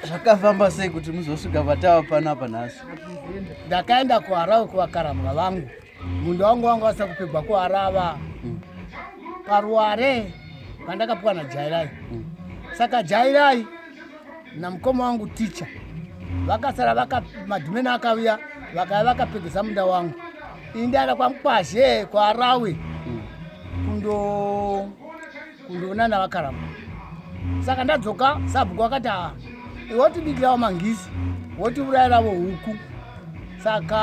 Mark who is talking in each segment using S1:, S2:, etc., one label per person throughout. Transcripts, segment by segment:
S1: zvakafamba sei kuti muzosvika vatava pano apa nhasi ndakaenda kuharau kuvakaramwa vangu munhu wangu wangu asina kupigwa kuharava mm. paruware pandakapiwa najairai mm. saka jairai namukoma wangu ticha vakasara madhumeni akaviya vakaya vakapegesa munda wangu indaenda kwamukwazhe kwarawi mm. kundo kundoona navakaramba saka ndadzoka sabhuku wakati aa wotibikirawo mangisi wotiurayiravo huku saka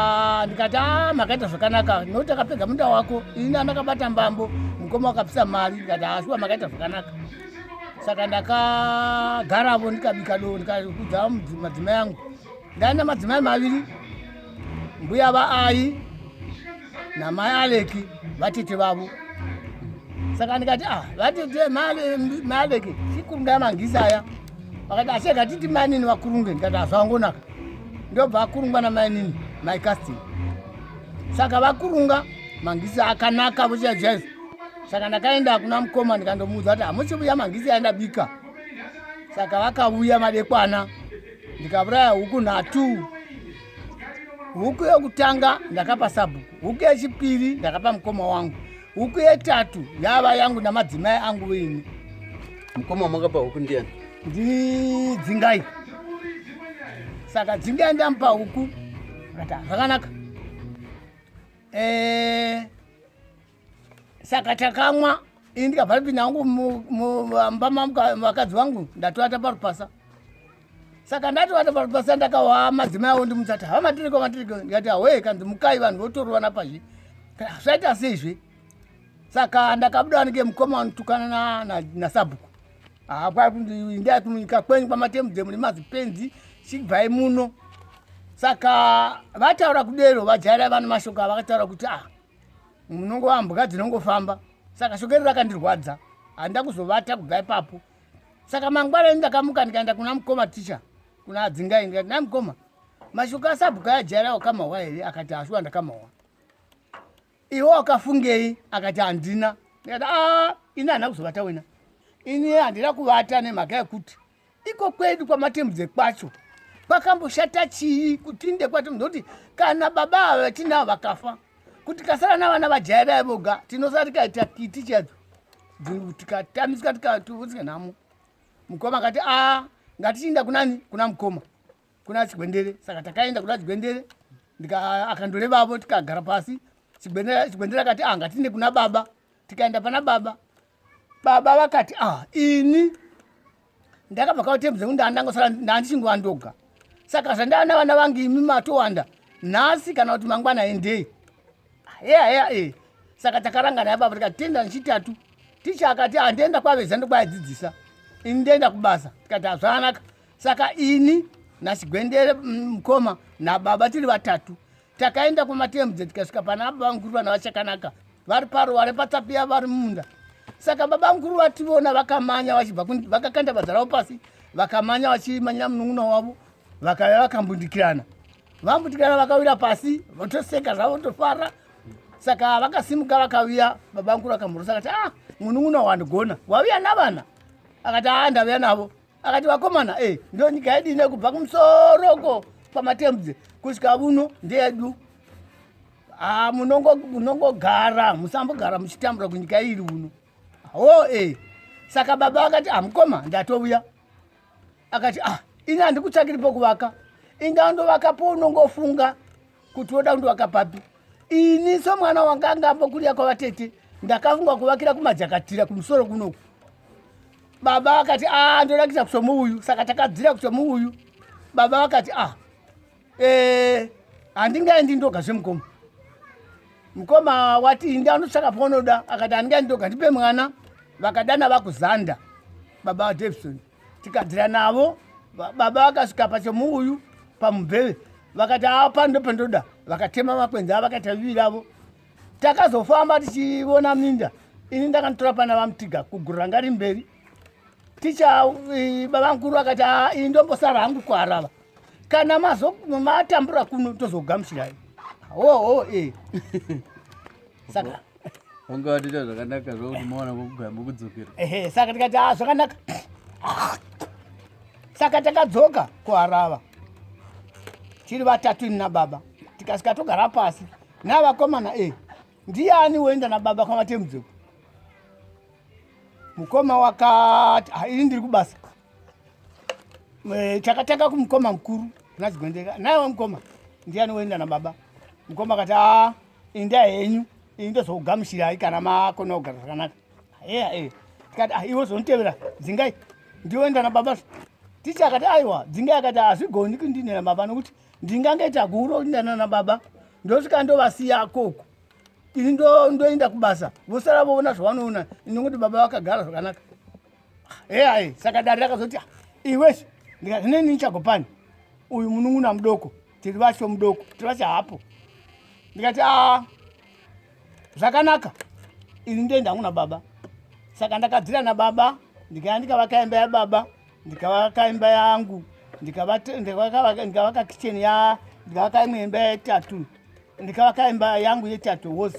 S1: ndikati a ah, makaita zvakanaka nokuti akapedza munda wako ini andakabata mbambo mukoma wakapisa mari ndikati ashuwa ah, makaita zvakanaka saka ndakagaravo ndikabika do ndikakudza madzima yangu ndaina madzimai maviri mbuya vaai namai aleki vatete vavo saka ndikati ah vatete mai aleki chikurungaya mangisi aya vakati asi akatiti mainini vakurunge ndikati hazvangonaka ndobva akurungwa namainini mai casting saka vakurunga mangisi akanaka vochiyajaiza saka ndakaenda kuna mukoma ndikandomuudza kuti hamusi vuya mangisi aindabika saka vakauya madekwana ndikauraya huku nhatu huku yekutanga ndakapa sabhuku huku yechipiri ndakapa mukoma wangu huku yetatu yava yangu namadzimai angu vini mukoma wamakapa huku ndiyani ndidzingai saka dzingai ndamupa huku zvakanaka eh, saka takamwa ini ndikabva ndipinda hangu mumba mavakadzi vangu ndatovata parupasa saka ndatovata parupasa ndakawaa madzimai avo ndimutsati hava matiriko matiriko ndikati hawee kanzi mukai vanhu votorovana pazvi zvaita seizve saka ndakabuda anike mukoma anotukana nasabhuku ndaya kumunyika kwenyu kwamatemudzemu nemazipenzi chibvai muno saka vataura kudero vajaira vana mashoko avakataura kuti ah munongova mbwa dzinongofamba saka shokero rakandirwadza handida kuzovata kubva ipapo saka mangwana ini ndakamuka ndikaenda kuna mukoma ticha kuna adzingai ndikati na mukoma mashoko asabhuku ayajaira wakamahwa here akati hashuwa ndakamahwa iwe wakafungei akati handina ndikati a ah, ini handina kuzovata wena ini handina kuvata nemhaka yekuti Iko kwedu kwamatemudze kwacho kwakamboshata chii kuti inde kwacho ndokuti kana baba ava vatinavo vakafa kuti kasara navana vajaya vaya voga tinosara tikaita kiti chadzo tikatamisika tikatuvusika nhamo mukoma akati a ngatichiinda kunani kuna mukoma kuna chigwendere saka takaenda kuna chigwendere akandorevavo tikagara pasi chigwendere akati a ngatiinde kuna baba tikaenda pana baba baba vakati ah ini ndakabva kautembudza kuti ndandangosara ndandichinguva ndoga saka zvandaana vana vangu imi matowanda nhasi kana kuti mangwana endei heya heya e saka takarangana yababa tikati tienda nechitatu ticha akati handienda ah, kwaveza ndokwayadzidzisa ini ndoenda kubasa tikati hazvanaka saka ini nasigwendere mm, mukoma nababa tiri vatatu takaenda kumatembudze tikasvika pana baba vamukuru vana vachakanaka vari paruware patsapiya vari mumunda saka baba mukuru vativona vakamanya vachibva vakakanda badza ravo pasi vakamanya vachimanyira munun'una wavo vakauya vakambundikirana vambundikirana vakawira pasi votoseka zvavo votofara saka vakasimuka vakaviya baba mukuru akamhorosa akati ah munun'una wandigona waviya navana akati aa ah, ndaviya navo akati vakomana e eh, ndo nyika yedu ine kubva kumusoroko pamatembudze kusvika vuno ndeyedu ha ah, munongogara musambogara muchitambura kunyika iri uno ho e eh. saka baba akati ah mukoma ndatouya akati ah ini handikutsvakiri pokuvaka inga ndovaka pounongofunga kuti woda kundivaka papi ini somwana wanga anga ambokuria kwavatete ndakafunga kuvakira kumajakatira kumusoro kunoku baba vakati a ah, ndoda kuita kusomu uyu saka takadzira kusomu uyu baba vakati a ah, eh, handingaendi ndoga zvemukoma mukoma wati inda unotsvaka paunoda akati handingaendi ndoga ndipe mwana vakadana vakuzanda baba vadavison tikadzira navo baba vakasvika pachemuuyu pamubheve vakati apa ndopandoda vakatema makwenzi avo vakaita vivi ravo takazofamba tichiona minda ini ndakanotora pana vamutiga kugurira ngari mberi ticha baba mukuru vakati aa ini ndombosara hangu kuarava kana matambura kuno tozogamuchirai oho oh, e saka vanga vatoita zvakanaka zvokuti maona kugamba kudzokera ehe saka tikati a ah, zvakanaka saka takadzoka kuharava tiri vatatu ini nababa tikasika togara pasi navakomana e ndiani woenda nababa kwamatemudzeko mukoma wakati haini ndiri kubasa Eh, takatanga kumukoma mukuru nazigwendeka naiwe mukoma ndiyani woenda nababa mukoma akati a inda henyu ini ndozokugamuchirai kana makona kugara zvakanaka heya e tikati ah, iwe zonitevera dzingai ndiwoenda nababa ticha akati aiwa dzingai akati hazvigoni kundinera baba nokuti ndingange taguro kundana nababa ndosvika ndovasiya koko ini ndoenda kubasa vosara voona zvavanoona ini nokuti baba vakagara zvakanaka eyai saka dare rakazoti ah, iwese ndikati neni ndichagopani uyu munun'una mudoko tiri vacho mudoko tiri vacho hapo ndikati a zvakanaka ini ndoenda hangu nababa saka ndakadzira nababa ndikaya ndikavaka imba yababa ndikavaka imba yangu ndikavaka kitchen ya ndikavaka imwe imba yetatu ndikavaka imba yangu yetatu wose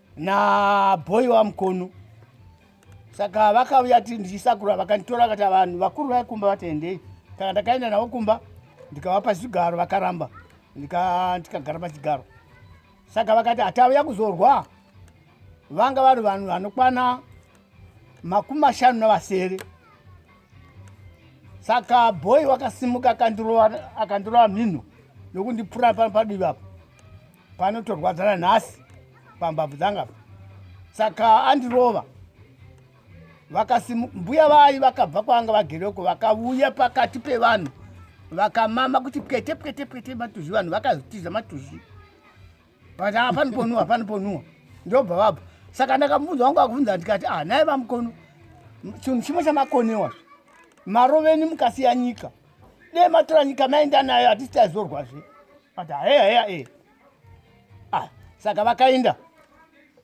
S1: nabhoyi wamukono saka vakauya ti ndichisakura vakanditora vakati vanhu vakuru vaikumba vatiendei saka ndakaenda navo kumba ndikavapa zvigaro vakaramba ndikagara pachigaro saka vakati hatauya kuzorwa vanga vari vanhu vanokwana makumi mashanu navasere saka bhoyi wakasimuka akandirova mhino nokundipfura pano padivi apo panotorwadza nanhasi pambabvu dzanga saka andirova vakasi mbuya vayi vakabva kwanga vagereko vakavuya pakati pevanhu vakamama kuti pwete pwete pwete matuzvi vanhu vakazitiza matuzvi but hapani ponuwa hapani ponuwa ndobva vabva saka ndakamubvunza wangu akubvunza ndikati ah naye vamukono chinhu chimwe chamakonewa maroveni mukasiya nyika dai matora nyika maenda nayo hatisi taizorwazve but haeya heya e ah saka vakaenda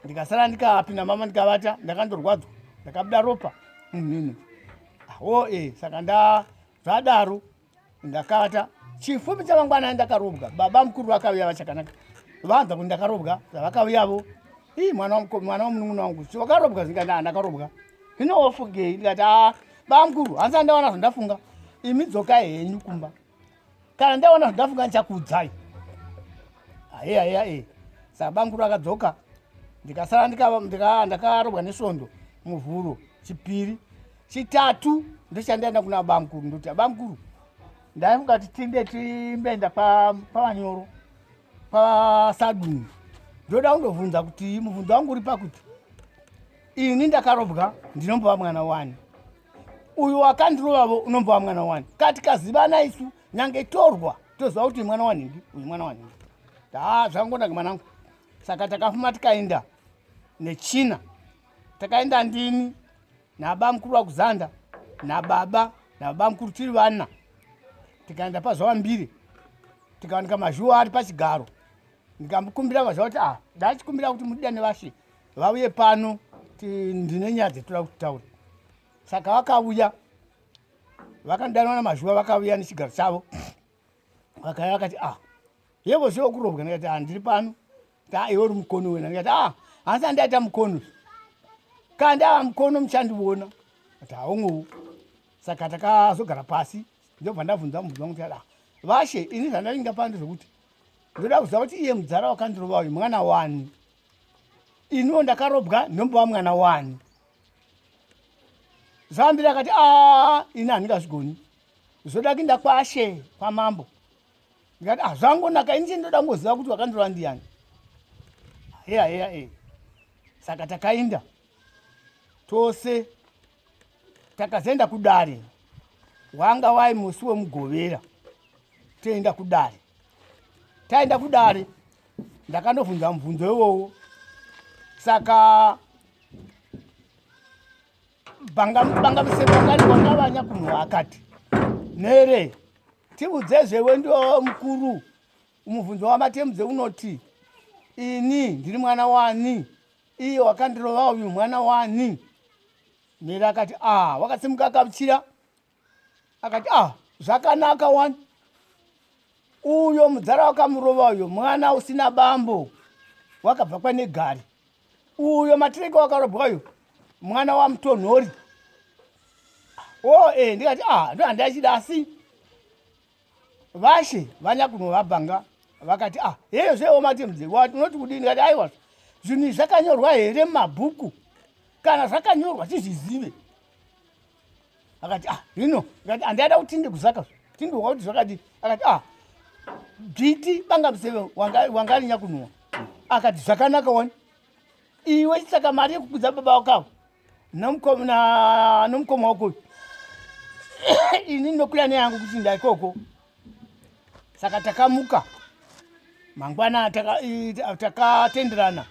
S1: ndikasara ndikapinda mama ndikavata ndakandorwadzwa ndakabuda ropa munhini awo e saka nda zvadaro ndakavata chifumi chamangwana ndakarobwa baba mukuru vakauya vachakanaka vanza kuti ndakarobwa zvavakauyavo ii mwana wamukomana wamunun'una wangu so vakarobwa zingati a ndakarobwa zvino wofugei ndikati a ah, Bamkuru, hanzi andawana zvandafunga. Imi dzokai henyu kumba. Kana ndawana zvandafunga ndichakuudzai. Aye aye aye. Saka bamkuru akadzoka. Ndikasara ndika ndika ndakarobwa nesondo muvhuro chipiri. Chitatu ndichandaenda kuna bamkuru ndoti bamkuru ndaifunga kuti tinde timbeenda pa pavanyoro. pasadunhu ndoda kundobvunza kuti mubvunzo wangu uri pakuti ini ndakarobwa ndinombova mwana wani uyu wakandirovavo unombova mwana wani kati kazivana isu nyange torwa toziva kuti mwana wanhingi uyu mwana wanhingi haa zvakangonaka mwanangu saka takafuma tikaenda nechina takaenda ndini nabamukuru vakuzanda nababa nababamukuru tiri vana tikaenda pazuva mbiri tikawanika mazhuwa ari pachigaro ndikamukumbira vazva kuti ah ndachikumbira kuti mudida nevashe vauye pano ndine nyaya dzetoda kuti taure saka vakauya vakandanwa namazhuwa vakauya nechigaro chavo vakaya vakati ah yevo zve okurobwa ndikati ah ndiri pano Ka iwe uri mukono wena ndikati ah hanzi andaita mukono ka ndava mukono muchandiona ati haungowo saka takazogara pasi ndobva ndabvunza mubvunza kuti ada vashe ini zvandainga pano ndezvekuti ndoda kuziva kuti iye mudzara wakandirova uyu mwana wani iniwo ndakarobwa ndombova mwana wani zvambira akati a ah, ini handingazvigoni zvoda kuinda kwashe kwamambo ndikati hazvangonaka ah, ini chendoda kungoziva kuti wakandirova ndiyani heya heya e saka takainda tose takazoenda kudare wanga wai musi wemugovera toenda kudare taenda kudare ndakandobvunza mubvunzo iwowo saka banga banga musemakani wanga vanya kunhu akati nere Tiudzezve wendiwo mukuru. Mubvunzo wamatemudze unoti ini ndiri mwana wani iye wakandirova uyu mwana wani mhere akati ah wakasimuka akabuchira akati ah zvakanaka wani uyo mudzara wakamurova uyo mwana usina bambo wakabva kwanegari uyo matireke wakarobwa uyo mwana wamutonhori o oh, e eh, ndikati a ah, ndo handiachida asi vashe vanyakunovabhanga vakati a ah, heyo zveomati mdze unoti kudii ndikati aiwa zvinhu izvi zvakanyorwa here mumabhuku kana zvakanyorwa tizvizive akati ah hino ngati andaida kuti tinde kuzaka tinde wakuti zvakati akati ah bviti banga museve wangarinya kunhuwa akati zvakanaka wani iwe saka mari yekukudza baba wakavo nomukoma wako ini ndokuya neyangu kuti ndaikoko saka takamuka mangwana takatenderana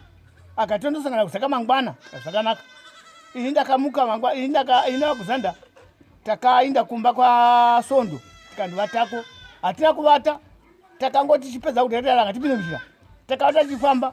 S1: akati tondosangana kusaka mangwana zvakanaka ini ndakamuka mangwa ini ndakainda kuzanda takainda kumba kwasondo tikandivatako hatina kuvata takangoti chipedza kudadara ngatipinde muzhira takavata tichifamba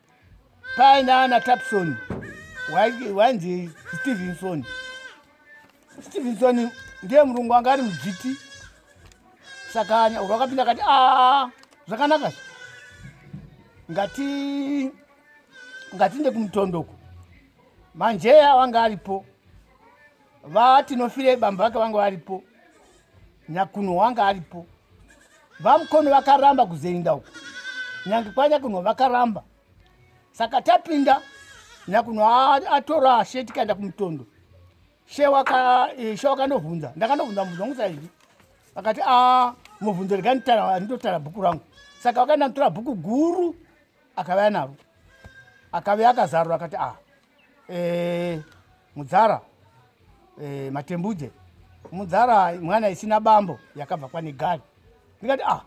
S1: paina ana tapson wainzi stevenson stevenson ndiye murungu anga ari mudzviti saka nyauro akapinda akati a zvakanaka ngati ngatiinde kumutondoko manjeya wanga aripo vatinofire bambo vake vanga varipo nyakunhu wanga aripo vamukono vakaramba kuzoenda uko nyange kwanyakunhu vakaramba saka tapinda nyakunhu atora she tikaenda kumutondo she eh, wakandobvunza ndakandobvunza mubvunzo wangu saizvi akati a ah, mubvunzo rega nditotara bhuku rangu saka wakaenda mutora bhuku guru akavaya naro akavaya akazarura akati a ah, eh, mudzara eh, matembudze mudzara mwana isina bambo yakabva kwanegari ndikati ah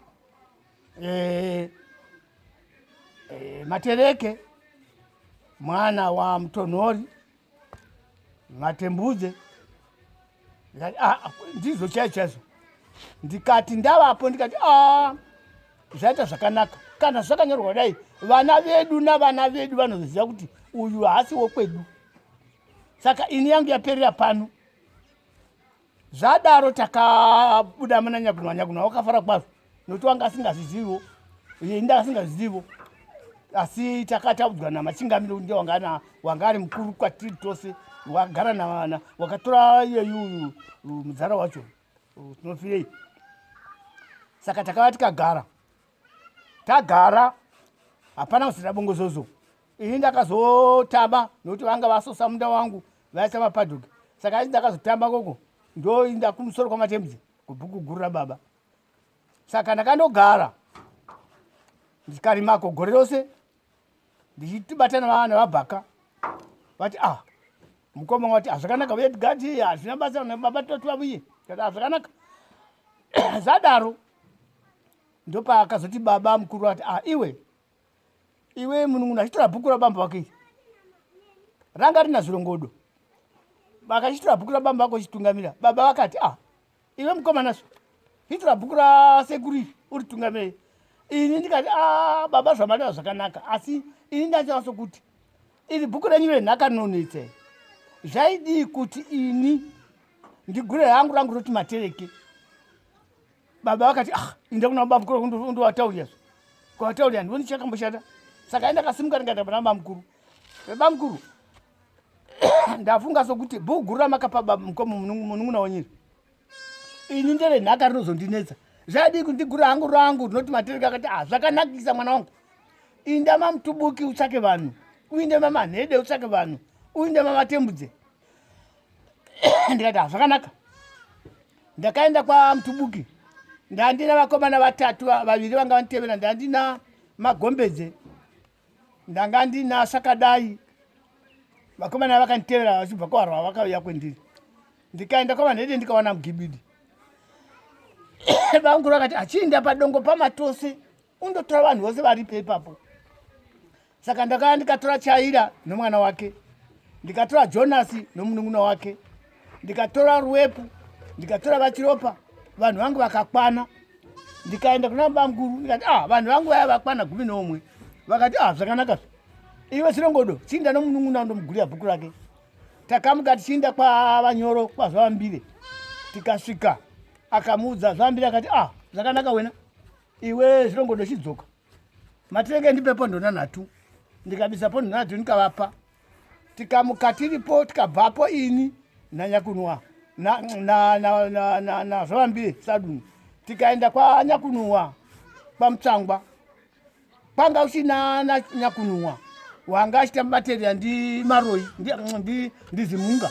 S1: eh, eh, matereke mwana wa mutonhori matembudze ndizvo chai chaizvo ndikati ndavapo ndikati a zvaita zvakanaka kana zvakanyorwa kudai vana vedu navana vedu vanoziva kuti uyu haasi wokwedu saka ini yangu yaperera pano zvadaro takabuda muna nyakunwa nyakunwa wakafara kwazvo nokuti wanga asingazviziviwo iye inda asingazviziviwo asi takataudzwa namachingamiro ndi wangana wanga ari mukuru kwatiri tose wagara navana wakatora iyeyu muzara wacho tinofirei saka takava tikagara tagara hapana kusira bongozozo ini ndakazotamba nokuti vanga vasosa munda wangu vaisa mapadhuki saka ini ndakazotamba koko ndoinda kumusoro kwamatembudzi kubhuku guru rababa saka ndakandogara ndikarimako gore rose ndichitibatana vana vabhaka vati ah mukoma wati hazvakanaka uye tigadi hazvina basa nebaba toti vavuye kati hazvakanaka zadaro ndopaakazoti baba mukuru vati ah iwe iwe munun'una achitora bhuku rabamba vake iri ranga rina zvirongodo vakachitora bhuku rabamba vako chitungamira baba vakati ah iwe mukomana zve hitira bhuku rasekuru iri uri tungamei ini ndikati a ah, baba zvamareva zvakanaka asi ini ndachava sokuti iri bhuku renyu renhaka nonetse zvaidii kuti ini ndigure hangu rangu roti matereke baba vakati ah inda kuna baba mukuru ndowataurira zve kwawataurira ndivoni chakamboshata saka aindakasimuka ndikaita pana baba mukuru baba mukuru ndafunga sokuti bhuku guru ramakapa bamukomo munun'una wenyiri ini ndere nhaka rinozondinetsa zvaidii kundigura hangu rangu rinoti matereka akati ah zvakanakisa mwana wangu inda mamutubuki utsvake vanhu uinde mamanhede utsvake vanhu uinde mavatembudze ndikati ah zvakanaka ndakaenda kwamutubuki ndandina vakomana vatatu vaviri vanga vanditevera ndandina magombedze ndanga ndinasa kadai vakomana vakanditevera vachibva kwavarwa vakauya kwendiri ndikaenda kwavanhede ndikawana mugibidi vanguru vakati achiinda padongo pamatose undotora vanhu vose varipo ipapo saka ndakaya ndikatora chaira nomwana wake ndikatora jonasi nomunun'una wake ndikatora ruwepu ndikatora vachiropa vanhu vangu vakakwana ndikaenda kuna bamukuru ndikati ah vanhu vangu vaya vakwana gumi neumwe vakati ah zvakanaka iwe chirongodo chiinda nomunun'una ndomugurira bhuku rake takamuka tichiinda kwavanyoro kwazvavambire tikasvika akamuudza zvavambire akati ah zvakanaka wena iwe zvirongodo chidzoka matirenge ndipe pondonanhatu ndikabisa pondonanhatu ndikavapa tikamuka tiripo tikabvapo ini nanyakunwa nazvavambi saduni tikaenda kwanyakunwa kwamutsangwa kwanga usina nanyakunwa wanga achita materiya ndi maroi ndizimunga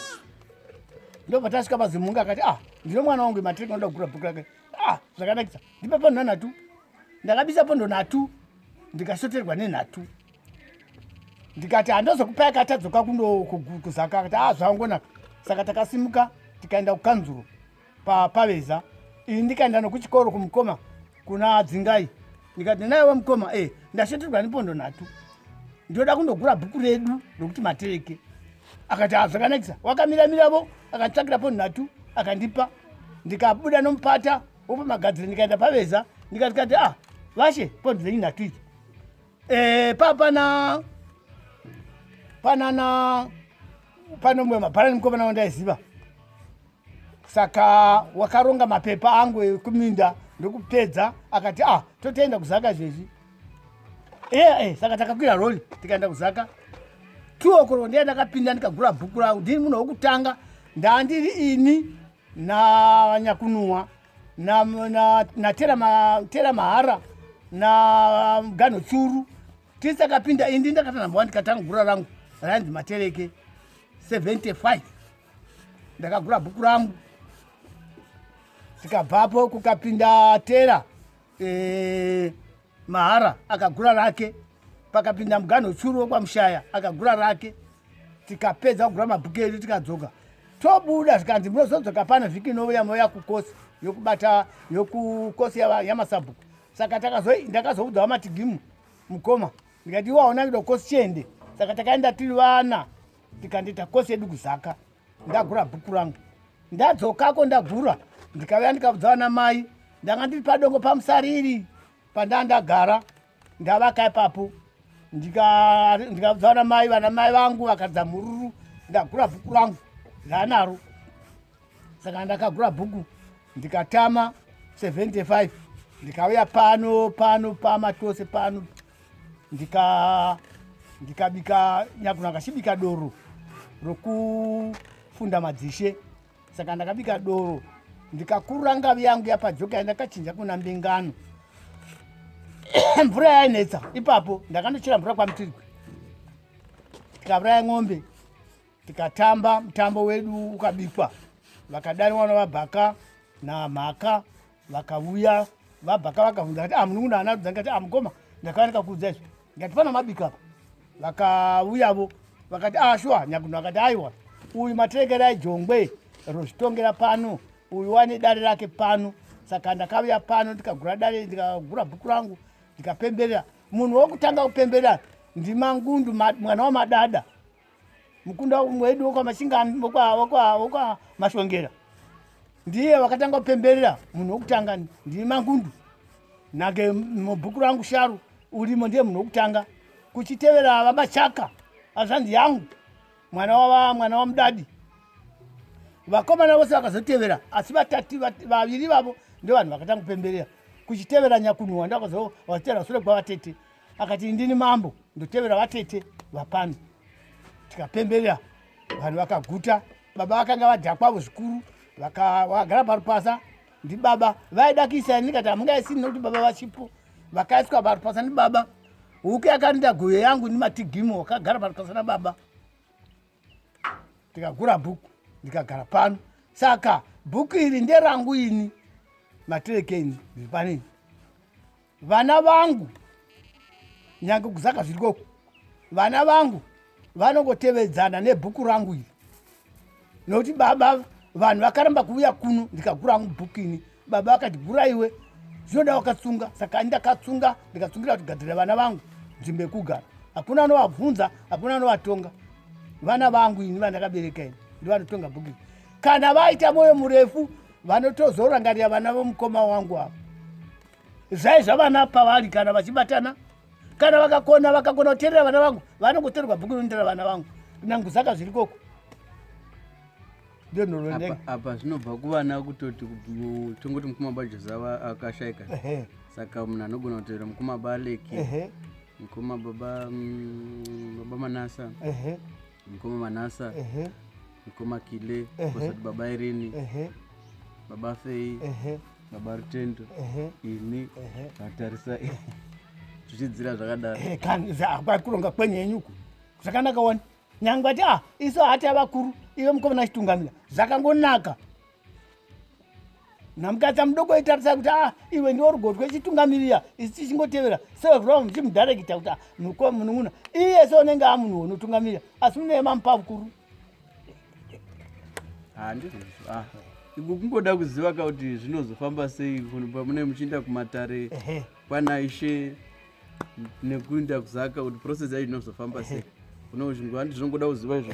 S1: ndobva tasvika pazimunga akati ah ndino mwana wangu matric anoda kugura bhuku rake ah zvakanakisa ndipa panhonhatu ndakabisa ponhonhatu ndikasoterwa nenhatu ndikati handozokupa yakatadzoka kuzaka akati a ah, zvangonaka saka takasimuka tikaenda kukanzuro papaveza ini ndikaenda nokuchikoro kumukoma kuna dzingai ndikati naiwe mukoma e ndashetirwa nepondo nhatu ndinoda kundogura bhuku redu rokuti matereke akati a ah, zvakanakisa wakamiramiravo akanditsvakira pondo nhatu akandipa ndikabuda nomupata wopamagadzire ndikaenda paveza ndikatikati a ah, vashe pondo dzenyu nhatu idzi Eh, papana panana pano mumwe mabhara nemukomana wandaiziva saka wakaronga mapepa angu ekuminda ndokupedza akati ah totoenda kuzaka izvezvi eya eh, eh, saka takakwira roli tikaenda kuzaka two okoro ndiye ndakapinda ndikagura bhuku rangu ndiri munhu wokutanga ndandiri ini nanyakunua natera na, na mahara na gano churu tese akapinda indi ndakatanambawa ndikatanga gura rangu rainzi matereke 75 ndakagura bhuku rangu tikabvapo kukapinda tera e, Mahara akagura rake pakapinda muganho churu wekwamushaya akagura rake tikapedza kugura mabhuku edu tikadzoka tobuda zvikanzi munozodzoka pano vhiki inouya mouya kukosi yokubata yokukosi yamasabhuku saka ndakazoudza wamatigimu mukoma ndikati iwaona kido kosi chiende saka takaenda tiri vana tikandiita kosi yedu kuzaka ndagura bhuku rangu ndadzokako ndagura ndikauya ndikabudza vana mai ndanga ndiri padongo pamusariri pandaa ndagara ndavaka ipapo ndikabudza vana mai vana mai vangu vakadza mhururu ndagura bhuku rangu ndaanaro saka ndakagura bhuku ndikatama 75 ndikauya pano pano pama tose pano ndika ndikabika nyakuna kachibika doro rokufunda madzishe saka ndakabika doro ndikakurura ngavi yangu yapajoka yandakachinja kuna mbingano mvura yainetsa ipapo ndakandochera mvura kwamutirikwi ndikauraya ng'ombe tikatamba mutambo wedu ukabikwa vakadari vana vabhaka namhaka vakavuya vabhaka vakavhunza kati amunun'una ah, anarudza ndikati amukoma ah, ndakawanika kuudza izvi ndikati pana mabika apa vakavuyavo vakati ashuwa ah, nyakuno akati aiwa uyu matekera ejongwe rozvitongera pano uyu wane dare rake pano saka ndakavuya pano ndikagura dare ndikagura bhuku rangu ndikapemberera munhu wokutanga kupemberera ndimangundu mwana wamadada mukunda wedu wekwamasingani wekwamasvongera ndiye wakatanga kupemberera munhu wekutanga ndiri mangundu nake mubhuku rangu sharu urimo ndiye munhu wekutanga kuchitevera vamachaka azvanzi yangu mwana wava mwana wamudadi vakomana vose vakazotevera asi vatati vaviri vavo ndevanhu vakatanga kupemberera kuchitevera nyakunhuwa ndavakazotevera sure kwavatete akati ndini mambo ndotevera vatete vapano tikapemberera vanhu vakaguta baba vakanga vadhakwavo zvikuru vakagara parupasa ndibaba vaida kuisa ini kati hamungaisi nokuti baba vachipo vakaiswa parupasa ndibaba huku yakarinda goyo yangu nimatigimo wakagara parupasa nababa ndikagura bhuku ndikagara pano saka bhuku iri nderangu ini materekeni ndiri panini vana vangu nyange kuzaka zviri koko vana vangu vanongotevedzana nebhuku rangu iri nokuti baba vanhu vakaramba kuuya kuno ndikagura hangu bhuku ini baba vakati gura iwe zvinoda wakatsunga saka ani ndakatsunga ndikatsungira kuti gadzirira vana vangu nzvimbo yekugara hakuna anovabvunza hakuna anovatonga vana vangu ini vandakabereka ini ndivanotonga bhuku iri kana vaita mwoyo murefu vanotozorangarira vana vomukoma wangu ava zai zvavana pavari kana vachibatana kana vakakona vakakona kuteerera vana vangu vanongotorerwa bhuku rinoendera vana vangu nangu saka zviri koko apa zvinobva kuvana kutoti tongoti mukoma bajozava akashaika saka munhu anogona kutevera mukoma baleki mukoma baba mm, baba manasa mukoma manasa ehe mukoma kile Ehe. kosati baba irini ehe baba fei ehe baba rutendo ehe ini ehe vatarisa zvichidzira zvakadaro Eh, kani za- kwa- kuronga kwenyu henyu uku zvakanaka wani nyangwe ati ah isu hati avakuru ive mukomana chitungamira zvakangonaka namukadzi amudoko aitarisa kuti a ah, iwe ndiwo rugotwe chitungamirira isi tichingotevera sevakura muchimudarekita kuti ah, mukoma munun'una iye se unenge a munhu unotungamirira asi muneye mamupa vukuru ah, kungoda kuziva ka kuti zvinozofamba sei mune muchiinda kumatare kwana ishe nekuinda kuzaka kuti process yacho inozofamba sei unoziva kuti zvinongoda kuziva izvo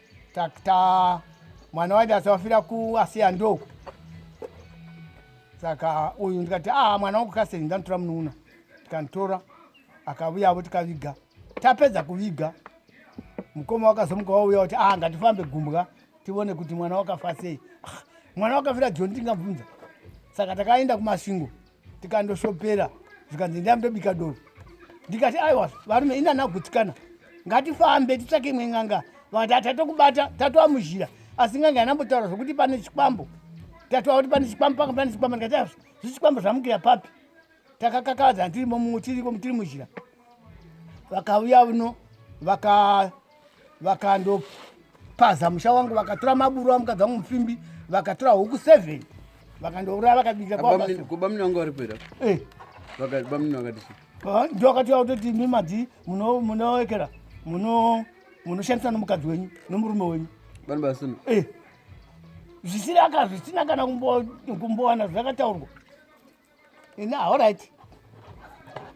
S1: takta mwana waida asawafira kuasiya ndoku saka uyu ndikati a ah, mwana wangu kasei ndanotora munoona tikanditora akavuyavo tikaviga tapedza kuviga mukoma wakazomuka wauya kuti a ah, ngatifambe gumbwa tivone kuti mwana wakafa sei ah, mwana wakafira joni tingabvunza saka takaenda kumasvingo tikandosopera zvikanzi ndai ndobika doro ndikati aiwa varume inanagutsikana ngatifambe titsvake imwe n'anga vakati hatatokubata tatova muzhira asi n'anga yanambotaura zvokuti pane chikwambo tatova kuti pane chikwambo panga pane chikwambo ndikati aiwa zvichikwambo zvamukira papi takakakavadzana tiri momumwe tiriko tiri muzhira vakauya uno vaka vakandopaza musha wangu vakatora maburu amukadzi wangu mupfimbi vakatora huku seven vakandouraya vakabika kwabamni wangu vari kuera eh. bamni vakati ndio wakati wautoti imi madzi munoekera munoshandisa nomukadzi wenyu nomurume wenyu vanhu vasina eh. zvisiri aka zvisina kana kumbowana zvakataurwa Ina all right.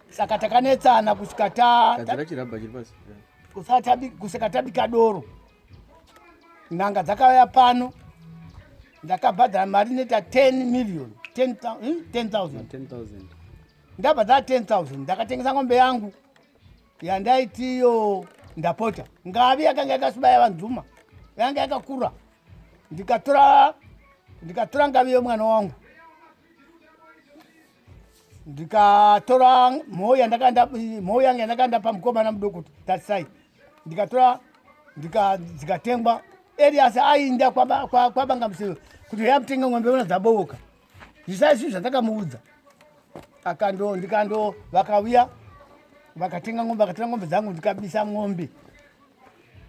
S1: Saka takanetsana kusvika ta Tadzira chirabha chiri pasi. Kusatabi kusvika tabika doro. Nanga dzakauya pano. Ndakabhadhara mari neta 10 million. 10,000. 10,000. Ndabhadhara 10,000. Ndakatengesa ngombe yangu. yandaitiyo ndapota ngavi yakanga yakasibaya vanzuma yanga yakakura ndikatora ndikatora ngavi yemwana wangu ndikatora mhou yandakandamhou yange yandakanda pamukomana mudoko kuti tarisai ndikatora dzikatengwa erias ainda kwabangamsiro kuti yamutenge ng'ombe ona dzabooka zvisaizvi zvandakamuudza akando ndikando vakavuya vakatenga ngombe vakatenga ngombe dzangu ndikabisa ngombe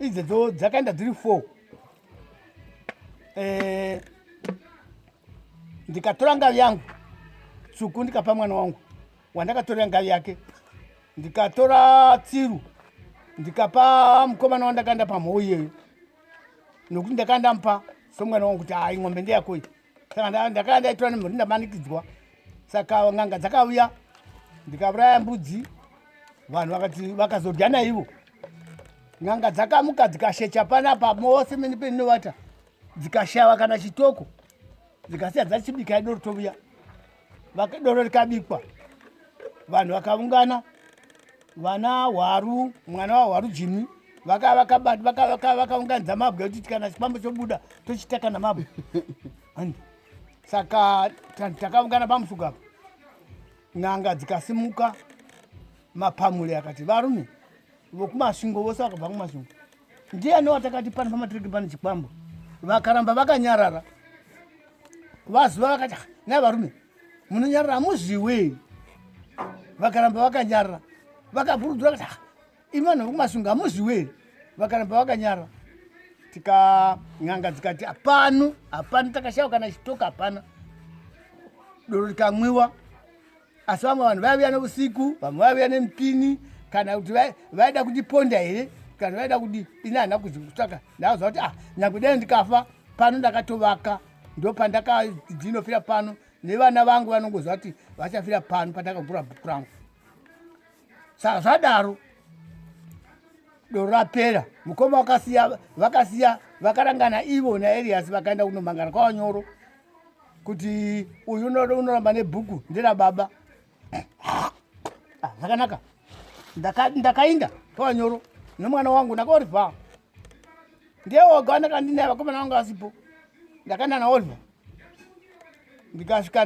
S1: idzedzo dzakaenda dziri four eh, ndikatora ngavi yangu tsvuku ndikapa mwana wangu wandakatorera ngavi yake ndikatora tsiru ndikapa mukomana wandakaenda pamhou iyeyo nokuti ndakaenda mupa somwana wangu kuti hai ngombe ndeyako iyi kana ndakanga ndaitwa nemhuri ndamanikidzwa saka n'anga dzakauya ndikauraya mbudzi vanhu vakati vakazodya naivo n'anga dzakamuka dzikashecha panapa mose mene peninovata dzikashava kana chitoko dzikasiya dzachibika ido rutovuya doro rikabikwa vanhu vakaungana vana hwaru mwana wahwaru jimi vakaunganidza mabwe kuti kana chipambo chobuda tochitaka namabwe saka takaungana pamusuku apa n'anga dzikasimuka mapamule akati varume vokumasvingo vose vakabva kumasvingo Ndiani watakati pano pamatiriki pano chikwambo vakaramba vakanyarara vaziva vakati ah, nai varume munonyarara hamuziwe vakaramba vakanyarara vakapurudzura kuti ah, imi vanhu vekumasunga hamuziwe vakaramba vakanyarara tika n'anga dzikati hapano hapano takashaiwa kana chitoka hapana doro rikamwiwa asi vamwe vanhu vaivuya neusiku vamwe vaivuya nemupini kana kuti vaida kundiponda here kana vaida kudi ini hana kuzvikutsvaka ndaaziva kuti ah nyange dai ndikafa pano ndakatovaka ndo pandakadzinofira pano nevana vangu vanongoziva kuti vachafira pano pandakagura bhuku rangu saka zvadaro doro rapera mukoma vakasiya vakasiya vakarangana ivo naerias vakaenda kunomangana kwavanyoro kuti uyu unoramba nebhuku ndera baba ah, zvakanaka ndakainda kavanyoro nemwana wangu ndakaorivha ndiye woga wandakandinaya vakomana vangu asipo ndakaenda naorivha ndikasvika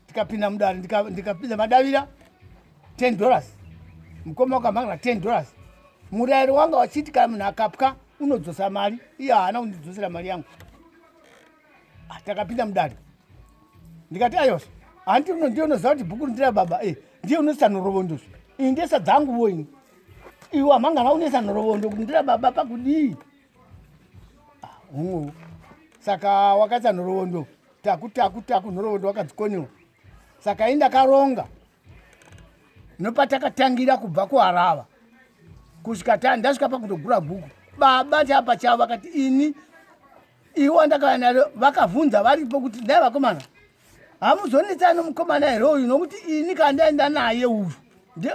S1: ndikapinda mudare ndikapinda madavira ten dollars mukoma wakamhangira ten dollars murairo wanga wachiti kana munhu akapwa unodzosa mari iye haana kundidzosera mari yangu ah, takapinda mudare ndikati ayos hanti uno ndiye unoziva kuti bhuku rindira baba e ndiye unoisa nhorovondoso iyi ndesa dzangu vo ini iwe amangana unoisa nhorovondo kuti ndira baba pakudii hungu ah, saka wakaisa nhorovondo taku taku taku nhorovondo wakadzikonyiwa saka ini ndakaronga nopatakatangira kubva kuharava kusvika ta ndasvika pakutogura guku baba chaa pachavo vakati ini iwo andakauya naro vakavhunza varipo kuti dai vakomana hamuzonetsa nomukomana here uyu nokuti ini kandaenda naye uyu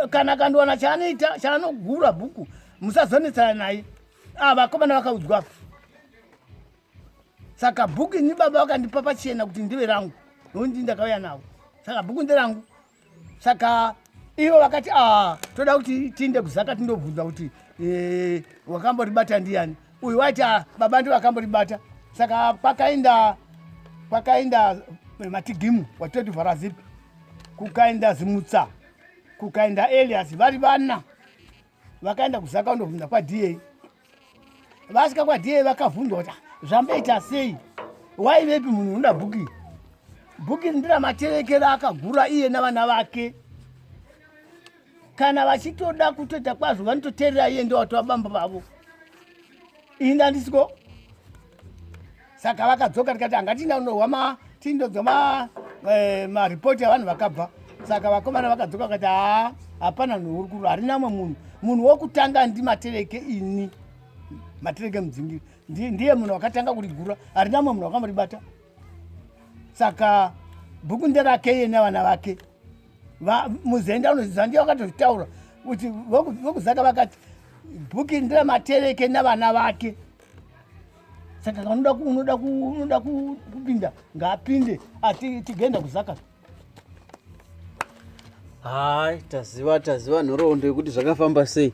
S1: kana kandiwana chaanoita chaanogura bhuku musazonetsana naye ah, vakomana vakaudzwa saka bhuku ini baba vakandipa pachena kuti ndive rangu nondi ndakauya navo saka bhuku nderangu saka ivo vakati a ah, toda kuti tiinde kuzaka tindobvunza kuti eh, wakamboribata ndiyani uyu waiti ah, baba ndi vakamboribata saka kwakainda kwakainda eh, matigimu watoti vharazipi kukainda zimutsa kukainda elias vari vana vakaenda kuzaka kundobvunza kwadiyei vasika kwadiyei vakavhunzwa kuti zvamboita sei waivepi munhu unoda bhuki bhuki ndira materekero akagura iye navana vake kana vachitoda kutoita kwazvo vanototeerera iye ndowatova bambo vavo inda ndisiko saka vakadzoka tikati anga tiinda kunohwa ma tindodzwa ma eh, maripoti avanhu vakabva saka vakomana vakadzoka vakati haa hapana nhu uri kuru harina umwe munhu munhu wokutanga ndimatereke ini matereke mudzingiri ndiye munhu wakatanga kurigura harina umwe munhu wakamuribata saka bhuku nderake iye nevana vake muzenda unoziva ndiye wakatotaura kuti vokuzaka vakati bhuki ndira matereke navana vake saka unoda kupinda ngaapinde asi tigoenda kuzaka hai taziva taziva nhoroondo yekuti zvakafamba sei